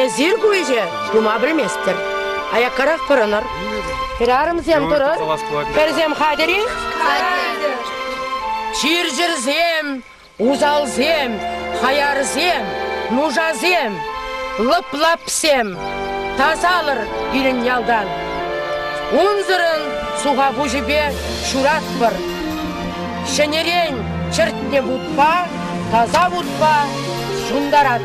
Эсир ку ӗҫе тума пӗлместӗр. Аяккарах пӑрӑнӑр. Хӗрарӑмсем турӑр. Пӗрсем хатӗр-и? Хатӗр. Чир-чӗрсем, усалсем, хаярсем, нушасем, лӑп-лапсем тасалӑр пирӗн ялтан. Унсӑрӑн суха пуҫӗпе ҫуратпӑр. Ҫӗнӗрен чӗртнӗ вутпа, таса вутпа ҫунтарат.